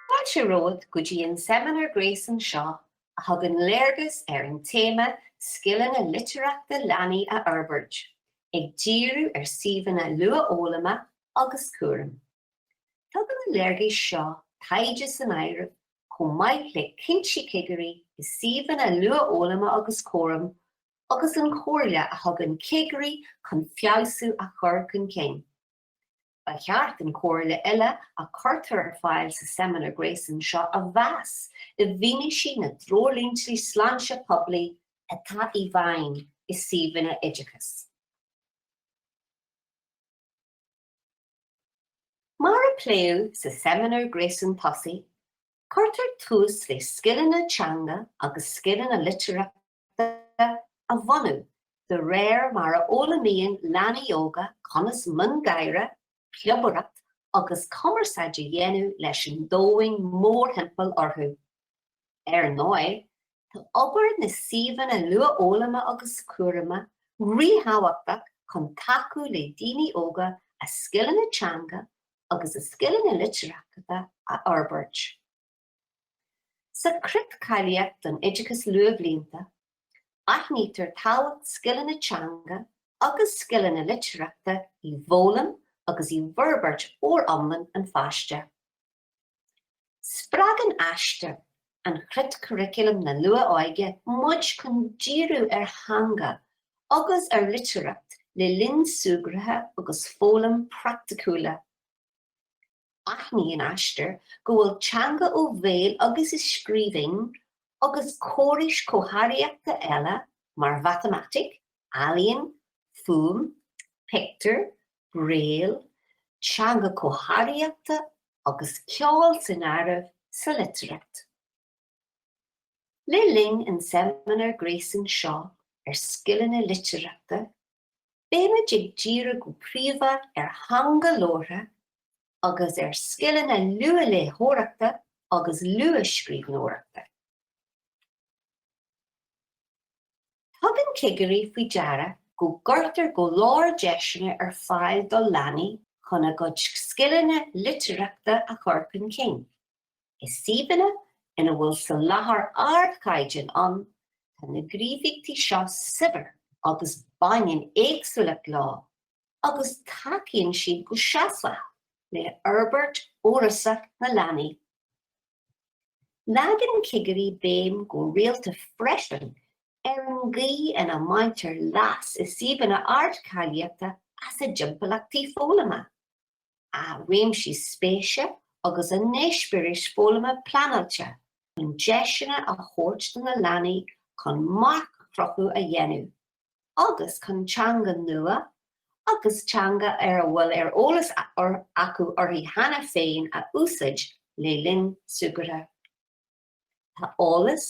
Fáilte romhat go dtí an seimineár gréasáin seo a thugann léargas ar an téama Scileanna Litearthachta Leanaí a Fhorbairt, ag díriú ar suíomhanna luathfhoghlama agus cúraim. Tugann na léargais seo taighde san áireamh chomh maith le cinntí cigirí i suíomhanna luathfhoghlama agus cúraim agus an chomhairle a thugann cigirí chun feabhsú a chur chun cinn. Ba cheart an chomhairle uile a chuirtear ar fáil sa seimineár gréasáin seo a mheas i bhfianaise na dtreoirlínte sláinte poiblí atá i bhfeidhm i suíomhanna oideachais. Mar a pléadh sa seimineár gréasáin tosaigh, cuirtear tús le scileanna teanga agus scileanna litearthachta a bhunú de réir mar a fhoghlaimíonn leanaí óga conas miongháire, plobaireacht agus cumarsáid a dhéanamh leis an domhain mórthimpeall orthu. Ar ndóigh, Tá obair na suíomhanna luathfhoghlama agus cúraim ríthábhachtach chun tacú le daoine óga a scileanna teanga agus a scileanna litearthachta a fhorbairt. Sa Chreat Cáilíochta don Oideachas Luathbhlianta, aithnítear tábhacht scileanna teanga agus scileanna litearthachta i bhfoghlaim agus i bhforbairt fhoriomlán an pháiste. Spreagann Aistear, an chreatchuraclam na luath-óige muid chun díriú ar theanga agus ar litearthacht le linn súgraithe agus foghlaim praiticiúla. Aithníonn Aistear go bhfuil teanga ó bhéal agus i scríbhinn agus córais comharthaíochta eile mar mhatamaitic, ealaíon, fuaim, pictiúir, Braille, teanga comharthaíochta agus ceol san áireamh sa litearthacht. Le linn an tseimineáir gréasáin seo ar scileanna litearthachta, beimid ag díriú go príomha ar theanga labhartha agus ar scileanna luathléitheoireachta agus luathscríbhneoireachta. Tugann cigirí faoi deara go gcuirtear go leor deiseanna ar fáil do leanaí chun a gcuid scileanna litearthachta a chur chun cinn. I suíomhanna ina bhfuil soláthar ardchaighdeáin ann, tá na gníomhaíochtaí seo saibhir agus baineann éagsúlacht leo agus tacaíonn siad go seasmhach le forbairt fhorásach na leanaí. Leagann cigirí béim go rialta freisin ar an gcaoi ina mbaintear leas i suíomhanna ardcháilíochta as a dtimpeallachtaí foghlama, a réimsí spéise agus a n-eispéiris foghlama pleanáilte chun deiseanna a thabhairt do na leanaí chun marc-chruthú a dhéanamh. agus chun teanga nua agus teanga ar a bhfuil ar eolas acu uirthi cheana féin a úsáid le linn súgartha. Tá eolas,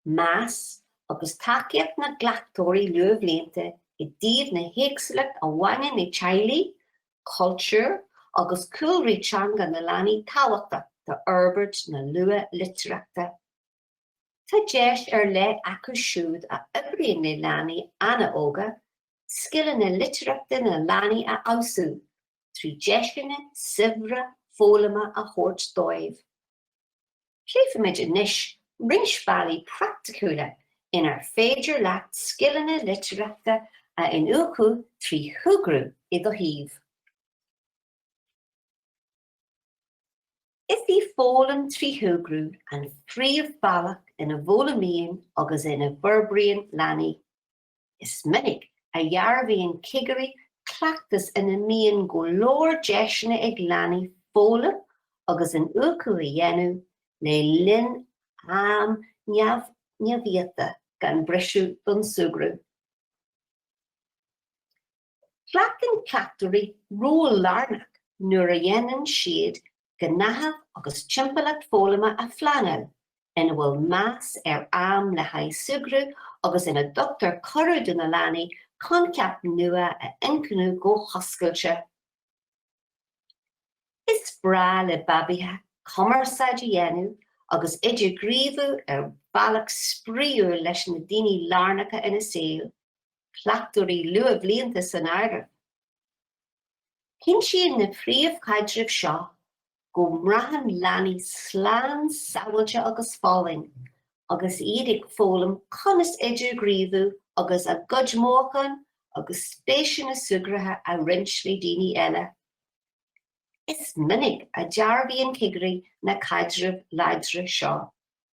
meas agus tacaíocht na gcleachtóirí luathbhlianta i dtaobh na héagsúlacht a bhaineann le teaghlaigh, cultúir agus cúlraí teanga na leanaí tábhachtach d'fhorbairt na luathlitearthachta. Tá deis ar leith acu siúd a oibríonn le leanaí an-óga scileanna litearthachta na leanaí a fheabhsú trí dheiseanna saibhre foghlama a thabhairt dóibh. Pléifimid anois roinnt bealaí praiticiúla inar féidir leat scileanna litearthachta a iniúchadh trí shúgradh i do shuíomh. Is í foghlaim trí shúgradh an phríomhbhealach ina bhfoghlaimíonn agus ina bhforbraíonn leanaí. Is minic a dhearbhaíonn cigirí cleachtas ina mbíonn go leor deiseanna ag leanaí foghlaim agus iniúchadh a dhéanamh le linn am neamhiata gan briseadh don súgradh. Glacann cleachtóirí ról lárnach nuair a dhéanann siad gnáthamh agus timpeallacht foghlama a phleanáil ina bhfuil meas ar am le haghaidh súgradh agus ina dtugtar cuireadh do na leanaí coincheapa nua a iniúchadh go hoscailte. Is breá le babaithe cumarsáid a dhéanamh agus idirghníomhú ar bhealach spraíúil leis na daoine lárnacha ina saol. cleachtóirí luathbhlianta san áireamh. Cinntíonn na príomhchaidrimh seo go mbraitheann leanaí slán sábháilte agus folláin agus iad ag foghlaim conas idirghníomhú agus a gcuid mothúchán agus spéiseanna súgartha a roinnt le daoine eile. Is minic a dhearbhaíonn cigirí na caidrimh láidre seo.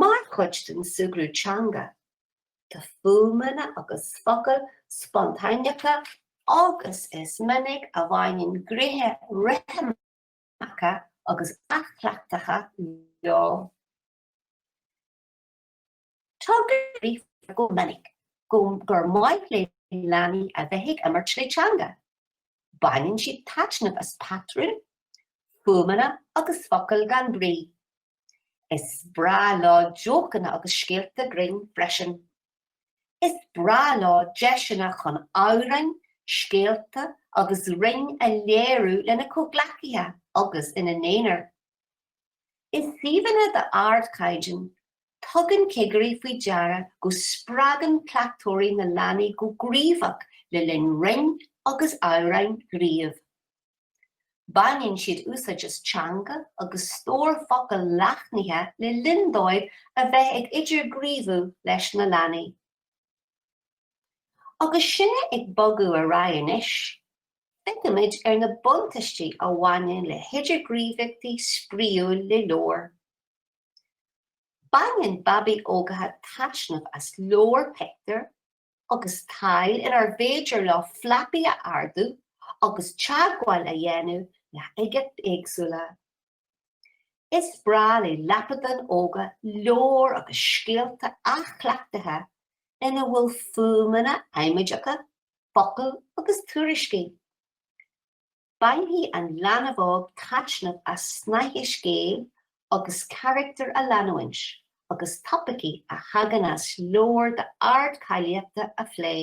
Mar chuid den súgradh teanga, tá fuaimeanna agus focail spontáineacha agus is minic a bhaineann gnéithe rithimeacha agus athchleachtacha leo. Tuigtear go minic gur maith le leanaí a bheith ag imirt le teanga. Baineann siad taitneamh as patrúin, fuaimeanna agus focail gan bhrí Is breá leo jócanna agus scéalta grinn freisin. Is breá leo deiseanna chun amhráin, scéalta agus rainn a léiriú lena comhghleacaithe agus ina n-aonar. I suíomhanna d'ardchaighdeán, tugann cigirí faoi deara go spreagann cleachtóirí na leanaí go gníomhach le linn rainn agus amhráin ghnímh. Baineann siad úsáid as teanga agus stór focal leathnaithe le linn dóibh a bheith ag idirghníomhú leis na leanaí. Agus sinne ag bogadh ar aghaidh anois, feicimid ar na buntáistí a bhaineann le hidirghníomhaíochtaí spraíúil le leabhair. Baineann babaí óga taitneamh as leabhair pictiúr agus tadhaill inar féidir leo flapaí a ardú agus teagmháil a dhéanamh le huigeachtaí éagsúla. Is breá le lapadáin óga leabhair agus scéalta athchleachtaithe ina bhfuil fuaimeanna amaideacha, focail agus tuairiscí. Bainfidh an leanbh óg taitneamh as snáithe scéil agus carachtar a leanúint agus topaicí a thagann as leabhar d'ardcháilíochta a phlé.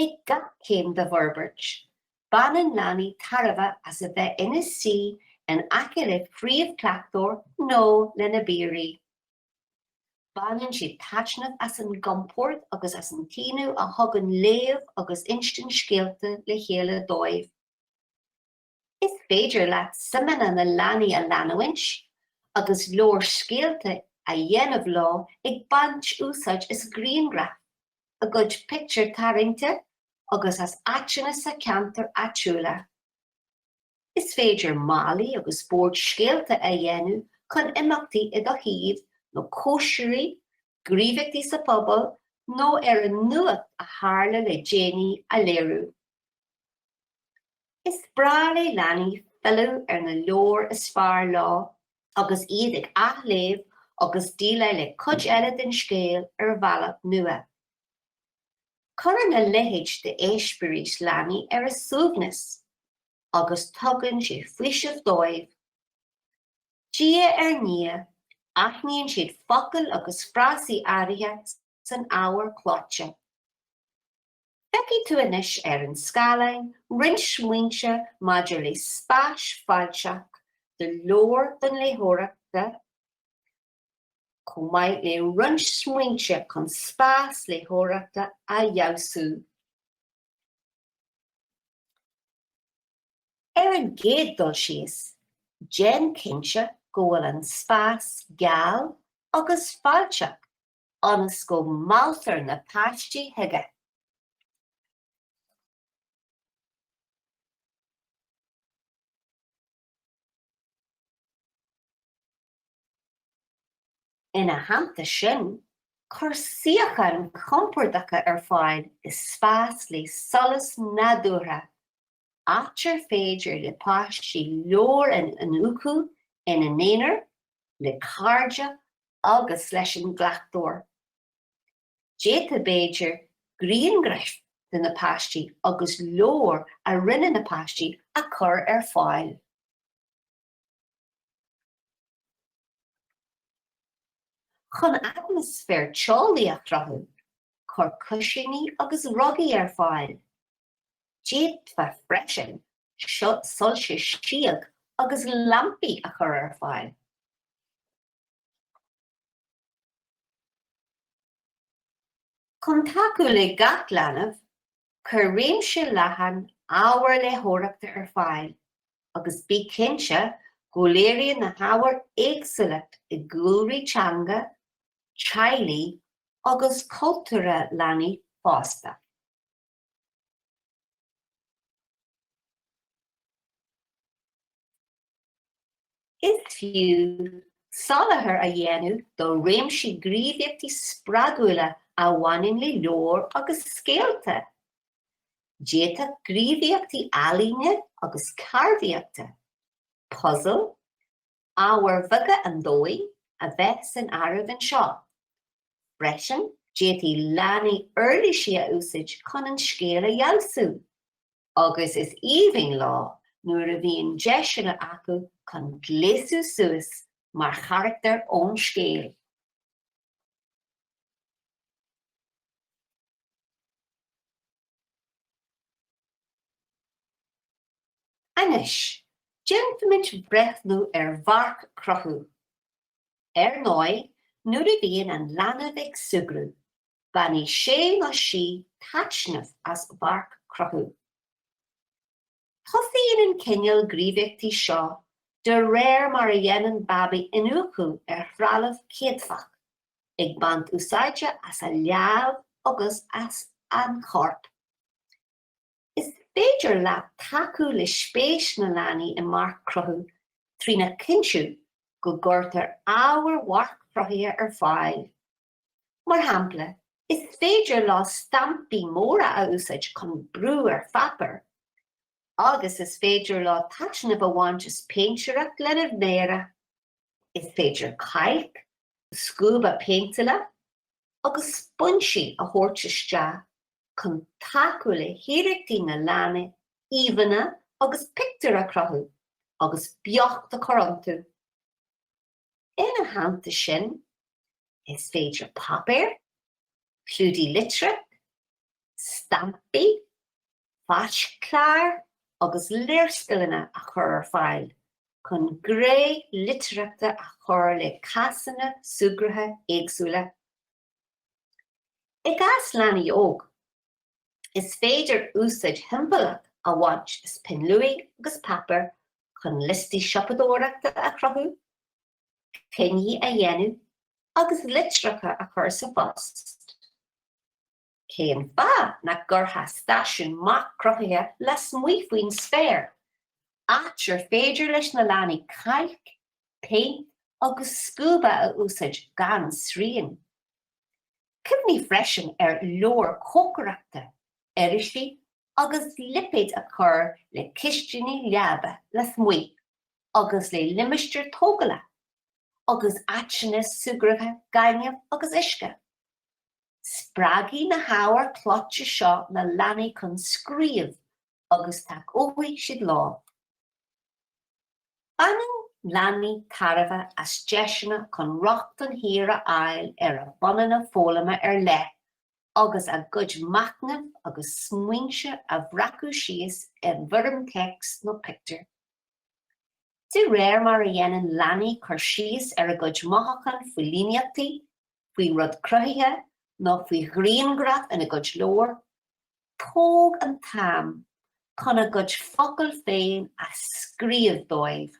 Ag gach céim dá bhforbairt, baineann leanaí tairbhe as a bheith ina suí in aice le príomhchleachtóir nó lena bpiaraí. Baineann siad taitneamh as an gcompord agus as an gcaoine a thugann léamh agus insint scéalta le chéile dóibh. Is féidir leat suimeanna na leanaí a leanúint agus leabhar scéalta a dhéanamh leo ag baint úsáid as grianghraif, a gcuid pictiúr tarraingte agus as áiteanna sa cheantar áitiúla. Is féidir málaí agus boird scéalta a dhéanamh chun imeachtaí i do shuíomh nó cóisirí, gníomhaíochtaí sa phobal nó ar an nuacht a tharla le déanaí a léiriú. Is breá le leanaí filleadh ar na leabhair is fearr leo agus iad ag athléamh agus déileáil le cuid eile den scéal ar bhealach nua. Cuireann a leithéid d'eispéiris leanaí ar a suaimhneas agus tugann sé faoiseamh dóibh. Diaidh ar ndiaidh, aithníonn siad focail agus frásaí áirithe san ábhar clóite. Feicfidh tú anois ar an scáileán roinnt smaointe maidir le spás fáilteach do leabhair don léitheoireachta, chomh maith le roinnt smaointe chun spás léitheoireachta a fheabhsú. Ar an gcéad dul síos, déan cinnte go bhfuil an spás geal agus fáilteach ionas go mealltar na páistí chuige. Ina theannta sin, cuir suíocháin chompordacha ar fáil i spás le solas nádúrtha, áit ar féidir le páistí leabhair a iniúchadh ina n-aonar, le cairde agus leis an gcleachtóir. D'fhéadfá b'fhéidir grianghraif de na páistí agus leabhair a rinne na páistí a chur ar fáil. Chun atmaisféar teolaí a chruthú, cuir cuisíní agus rugaí ar fáil. D'fhéadfá freisin soilse síog agus lampaí a chur ar fáil. Chun tacú le gach leanbh, cuir réimse leathan ábhar léitheoireachta ar fáil agus bí cinnte go léiríonn na hábhair éagsúlacht i gcúlraí teanga, teaghlaigh agus cultúrtha leanaí fosta. Is fiú soláthar a dhéanamh do réimsí gníomhaíochtaí spreagúla a bhaineann le leabhair agus scéalta. D'fhéadfadh gníomhaíochtaí ealaíne agus ceardaíochta, puzail, Ábhair bheaga an domhain a bheith san áireamh anseo. Freisin, d'fhéadfadh leanaí uirlisí a úsáid chun an scéal a fheabhsú, agus is aoibhinn leo nuair a bhíonn deiseanna acu chun gléasadh suas mar charachtair ón scéal. Anois, déanfaimid breathnú ar mharc-chruthú. Ar ndóigh, nuair a bhíonn an leanbh ag súgradh, bainfidh sé nó sí taitneamh as mharc-chruthú. Tosaíonn an cineál gníomhaíochtaí seo de réir mar a dhéanann babaí iniúchadh ar threalamh céadfach, ag baint úsáide as a lámh agus as an chorp. Is féidir leat tacú le spéis na leanaí i marc-chruthú trína chinntiú go gcuirtear ábhair mharc-chruthaithe ar fáil. Mar shampla, is féidir leo stampaí móra a úsáid chun brú ar pháipéar, agus is féidir leo taitneamh a bhaint as péintéireacht lena méara. Is féidir cailc, scuaba péinteála, agus spúinsí a thabhairt isteach chun tacú le hiarrachtaí na leanaí íomhánna agus pictiúir a chruthú agus beocht a chur iontu. Ina theannta sin, is féidir páipéar, clúdaigh litreach, stampaí, Fáisc-chláir agus léarscaileanna a chur ar fáil chun gné litearthachta a chur le cásanna súgartha éagsúla. I gcás leanaí óga, is féidir úsáid shiombalach a bhaint as pinn luaidhe agus páipéar chun liostaí siopadóireachta a chruthú, coinní a dhéanamh agus litreacha a chur sa phost. Cén fáth nach gcuirfeá stáisiún marc-chruthaithe lasmuigh faoin spéir, áit ar féidir leis na leanaí cailc, péint agus scuaba a úsáid gan srian? Cuimhnigh freisin ar leabhair cócaireachta, irisí agus lipéid a chur le cistiní láibe lasmuigh agus le limistéir tógála agus áiteanna súgartha gainimh agus uisce. Spreagfaidh na hábhair chlóite seo na leanaí chun scríobh agus tacóidh siad leo. Baineann leanaí tairbhe as deiseanna chun rochtain shaor a fháil ar a bpunanna foghlama ar leith agus a gcuid machnaimh agus smaointe a bhreacadh síos i bhfoirm téacs nó pictiúr. De réir mar a dhéanann leanaí cur síos ar a gcuid mothúchán faoi líníochtaí, faoin rud cruthaithe nó faoi ghrianghraf ina gcuid leabhar, tóg an t-am chun a gcuid focal féin a scríobh dóibh.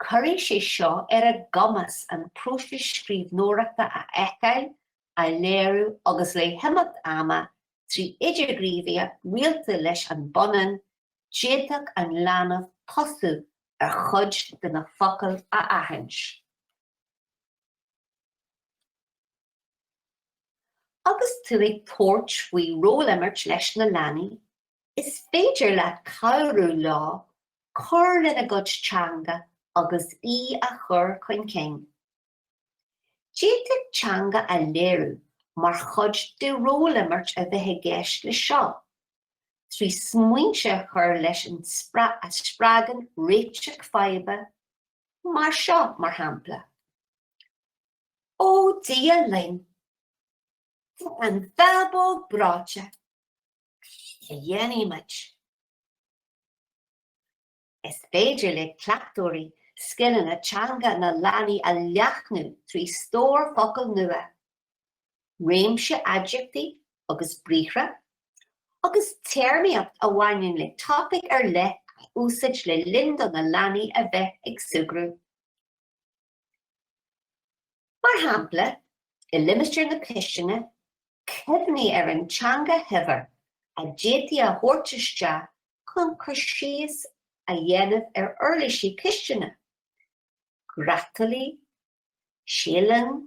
Cuirfidh sé seo ar a gcumas an próiseas scríbhneoireachta a fheiceáil, a léiriú agus le himeacht ama trí idirghníomhaíocht rialta leis an bpunann, d'fhéadfadh an leanbh tosú ar chuid de na focail a aithint. Agus tú ag tabhairt faoi ról-imirt leis na leanaí, is féidir leat cabhrú leo cur lena gcuid teanga agus í a chur chun cinn. D'fhéadfadh teanga a léiriú mar chuid de ról-imirt a bheith i gceist leis seo, trí smaointe a chur leis ann a spreagann réiteach faidhbe, Mar seo, mar shampla. Ó, Dia linn! Tá an bhábóg breoite! Cad a dhéanfaidh muid? Is féidir le cleachtóirí scileanna teanga na leanaí a leathnú trí stór focal nua réimse aidiachtaí agus briathra, agus téarmaíocht a bhaineann le topaic ar leith a úsáid le linn do na leanaí a bheith ag súgradh. Mar shampla, i limistéar na cistine, cuimhnigh ar an teanga shaibhir a d'fhéadfaí a thabhairt isteach chun cur síos a dhéanamh ar uirlisí cistine, grátálaí, síothlán,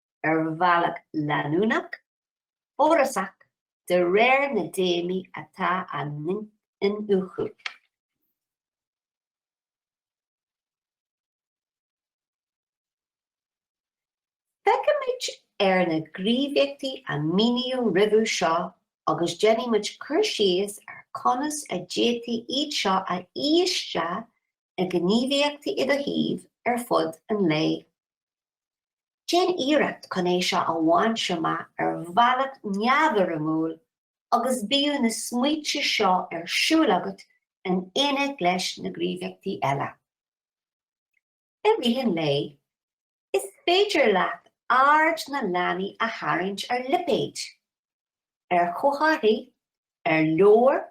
ar bhealach leanúnach, fórasach de réir na dtéamaí atá á n-iniúchadh. Féachaimis ar na gníomhaíochtaí a míníodh roimhe seo agus déanfaidh muid cur síos ar conas a d'fhéadfaí iad seo a fhí isteach i ngníomhaíochtaí i do shuíomh ar fud an lae. Déan iarracht chun é seo a bhaint amach ar bhealach neamhfhoirmiúil agus bíodh na smaointe seo ar siúl agat in éineacht leis na gníomhaíochtaí eile. I rith an lae, is féidir leat aird na leanaí a tharraingt ar lipéid, ar chomharthaí, ar leabhar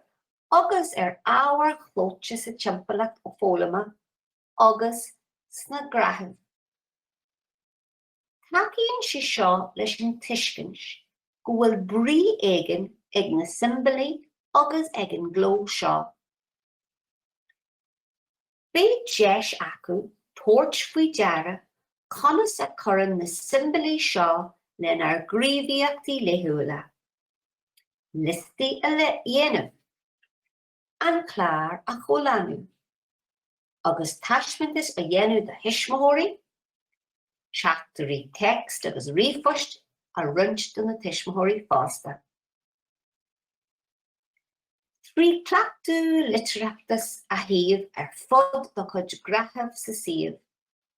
agus ar ábhair chlóite sa timpeallacht foghlama agus sna gnáthaimh. Tacaíonn sé seo leis an tuiscint go bhfuil brí éigin ag na siombailí agus ag an gcló seo. Beidh deis acu tabhairt faoi deara conas a cuireann na siombailí seo lenár gníomhaíochtaí laethúla. Liostaí a dhéanamh. an clár a chomhlánú agus taispeántas a dhéanamh do thuismitheoirí, teachtairí text agus ríomhphoist a roinnt do na tuismitheoirí fásta. Trí chleachtadh litearthachta a shuíomh ar fud do chuid gnáthaimh sa suíomh,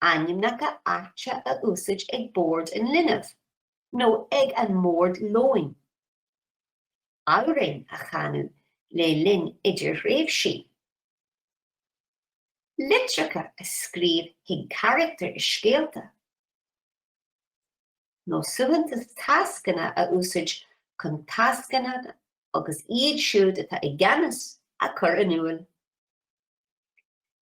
ainmneacha áite a úsáid ag bord an linbh nó ag an mbord lóin, amhráin a chanadh le linn idirthréimhsí, litreacha a scríobh chuig carachtair i scéalta, nó suaitheantas tascanna a úsáid chun tascanna agus iad siúd atá i gceannas a chur in iúl.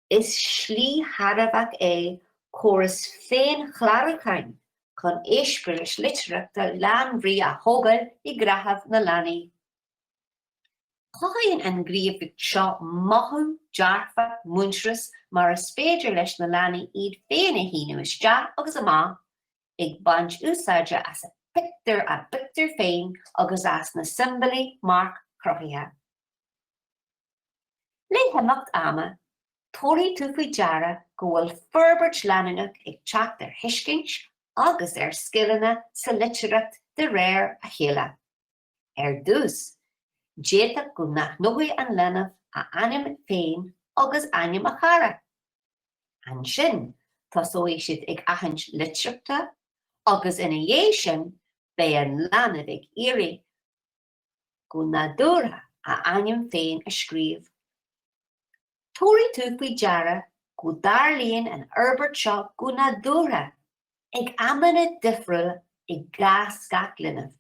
Is slí thairbheach é córas féinchlárúcháin chun éispéiris litearthachta lánbhrí a thógáil i ngnáthamh na leanaí. Cothaíonn an ghníomhaíocht seo mothú dearfach muintearas mar is féidir leis na leanaí iad féin a shíniú isteach agus amach ag baint úsáide as a pictiúr, a bpictiúr féin agus as na siombailí marc-chruthaithe. Le himeacht ama, tabharfaidh tú faoi deara go bhfuil forbairt leanúnach ag teacht ar thuiscint agus ar scileanna sa litearthacht de réir a chéile. Ar dtús, d'fhéadfadh go n-aithneoidh an leanbh a ainm féin agus ainm a chara. Ansin, tosóidh siad ag aithint litreacha agus ina dhiaidh sin, beidh an leanbh ag iarraidh go nádúrtha a ainm féin a scríobh. Tabharfaidh tú faoi deara go dtarlaíonn an fhorbairt seo go nádúrtha ag amanna difriúla i gcás gach linbh,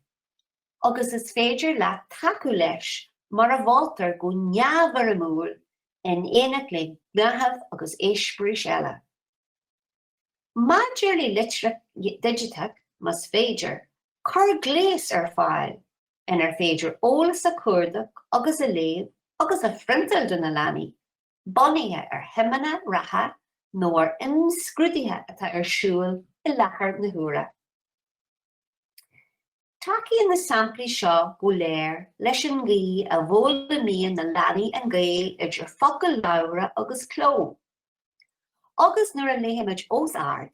agus is féidir leat tacú leis mar a mholtar go neamhfhoirmiúil in éineacht le gnáthaimh agus éispéiris eile. Maidir le litearthacht digiteach, más féidir, cuir gléas ar fáil inar féidir eolas a chuardach agus a léamh agus a phriontáil do na leanaí, bunaithe ar shuimeanna reatha nó ar imscrúduithe atá ar siúl i láthair na huaire. Tacaíonn na samplaí seo go léir leis an gcaoi a bhfoghlaimíonn na leanaí an gaol idir focail labhartha agus cló. Agus nuair a léaimid os ard,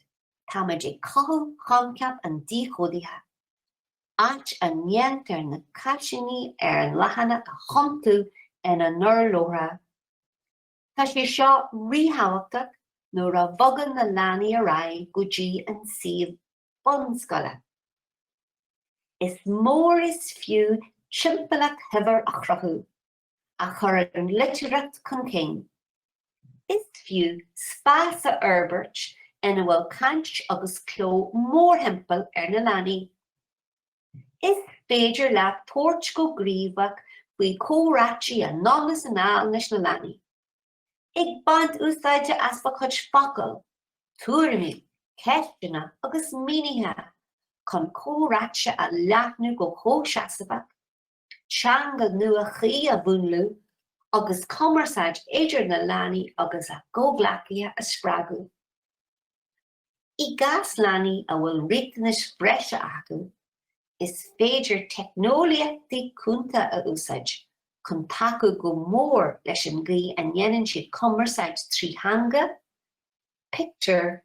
táimid ag cothú choincheap an díchódaithe, áit a ndéantar na carsíní ar an leathanach a thiontú ina n-urlabhraithe. Tá sé seo ríthábhachtach nuair a bhogann na leanaí ar aghaidh go dtí an suíomh bunscoile. Is mór is fiú timpeallacht shaibhir a chruthú. a chuireann litearthacht chun cinn. Is fiú spás a fhorbairt ina bhfuil caint agus cló mórthimpeall ar na leanaí. Is féidir leat tabhairt go gníomhach faoi chomhráite anonn is anall leis na leanaí, ag baint úsáide as do chuid focal, tuairimí, ceisteanna agus mínithe chun comhráite a leathnú go comhsheasmhach. teanga nua chuí a mhúnlú agus cumarsáid idir na leanaí agus a gcomhghleacaithe a spreagadh. I gcás leanaí a bhfuil riachtanais bhreise acu, is féidir teicneolaíochtaí cúnta a úsáid chun tacú go mór leis an gcaoi a ndéanann siad cumarsáid trí theanga, pictiúir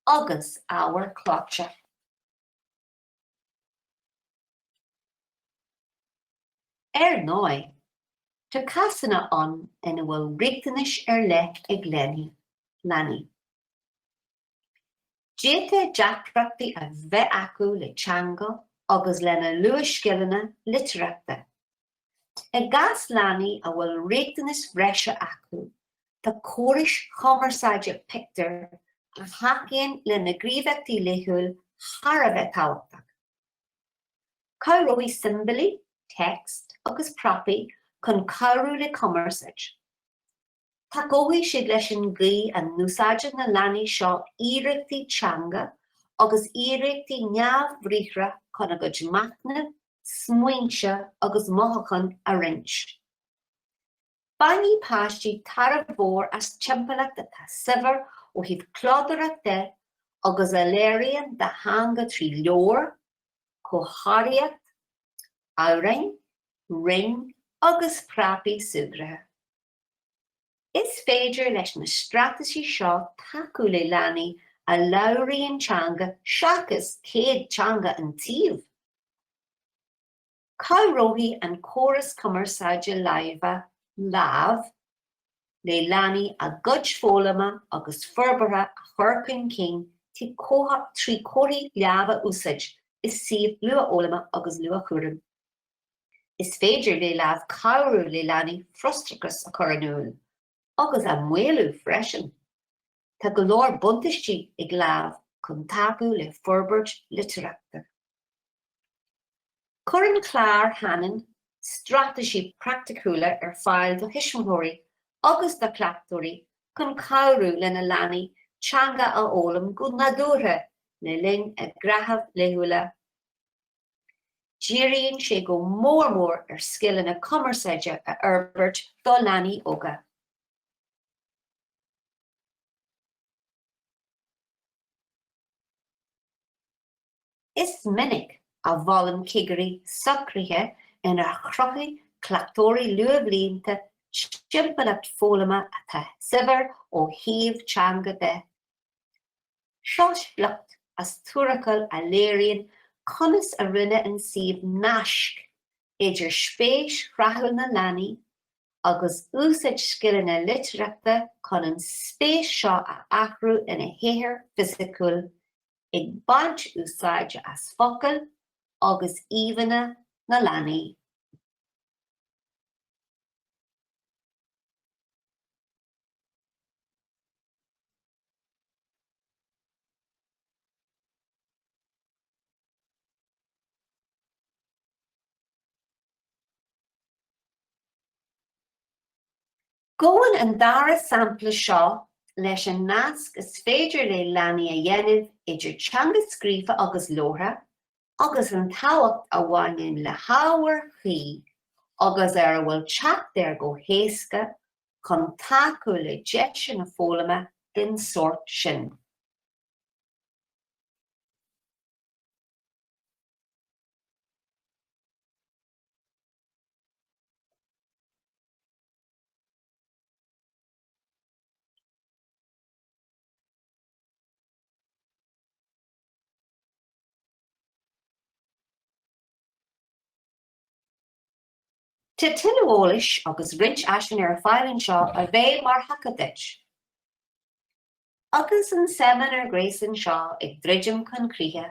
agus ábhar clóite. Ar ndóigh, tá cásanna ann ina bhfuil riachtanais ar leith ag leanaí. D'fhéadfadh deacrachtaí a bheith acu le teanga agus lena luathscileanna litearthachta. I gcás leanaí a bhfuil riachtanais bhreise acu, tá córais chumarsáide pictiúir a thacaíonn lena ngníomhaíochtaí laethúil thar a bheith tábhachtach. Cabhróidh siombailí, téacs agus prapaí chun cabhrú le cumarsáid. Tacóidh siad leis an gcaoi a n-úsáideann na leanaí seo iarrachtaí teanga agus iarrachtaí neamhbhriathra chun a gcuid machnaimh, smaointe agus mothuchán a roinnt. Bainfidh páistí tairbhe mhór as timpeallacht atá saibhir ó thaobh clódóireachta de agus a léiríonn a dteanga trí leabhair, comharthaíocht, amhráin, rainn agus prapaí súgartha. Is féidir leis na straitéisí seo tacú le leanaí a labhraíonn teanga seachas céadteanga an tsuímh. Cabhróidh an córas cumarsáide láimhe Lámh le leanaí a gcuid foghlama agus forbartha a chur chun cinn tí trí chomharthaí lámh a úsáid i suímh luathfhoghlama agus luathchúraim. Is féidir le Lámh cabhrú le leanaí frustrachas a chur in iúl agus a mhaolú freisin. Tá go leor buntáistí ag Lámh chun tacú le forbairt litearthachta. Cuireann Clár Hanen straitéisí praiticiúla ar fáil do thuismitheoirí agus do chleachtóirí chun cabhrú lena leanaí teanga a fhoghlaim go nádúrtha le linn a ngnáthamh laethúla. Díríonn sé go mór mór ar scileanna cumarsáide a fhorbairt do leanaí óga. Is minic a mholann cigirí socruithe inar chruthaigh cleachtóirí luathbhlianta timpeallacht foghlama atá saibhir ó thaobh teanga de Seo sliocht as tuarascáil a léiríonn conas a rinne an suíomh naisc idir spéis thráthúil na leanaí agus úsáid scileanna litearthachta chun an spéis seo a athrú ina shaothar fisiciúil ag baint úsáide as focail agus íomhánna na leanaí. Gabhann an dara sampla seo leis an nasc is féidir le leanaí a dhéanamh idir teanga scríofa agus labhartha agus an tábhacht a bhaineann le hábhair chuí agus ar a bhfuil teacht air go héasca chun tacú le deiseanna foghlama den sórt sin. Tá tuilleadh eolais agus roinnt áiseanna ar fáil anseo a bheidh mar thaca duit. Agus an seimineár gréasáin seo ag druidim chun críche,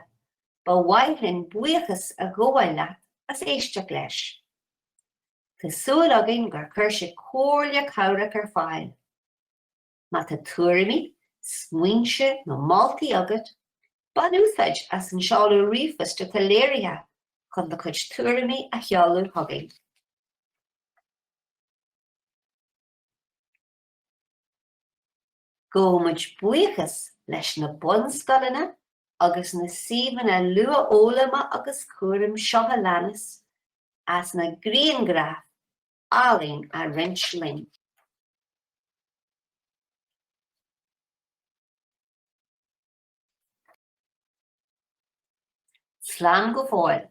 ba mhaith linn buíochas a ghabháil leat as éisteacht leis. Tá súil againn gur chuir sé comhairle cabhrach ar fáil. Má tá tuairimí, smaointe nó moltaí agat, bain úsáid as an seoladh ríomhphoist atá léirithe chun do chuid tuairimí a sheoladh chugainn. Gabhaimid buíochas leis na bunscoileanna agus na suíomhanna luathfhoghlama agus cúraim seo a leanas as na grianghraif áille a roinnt linn. Slán go fóill!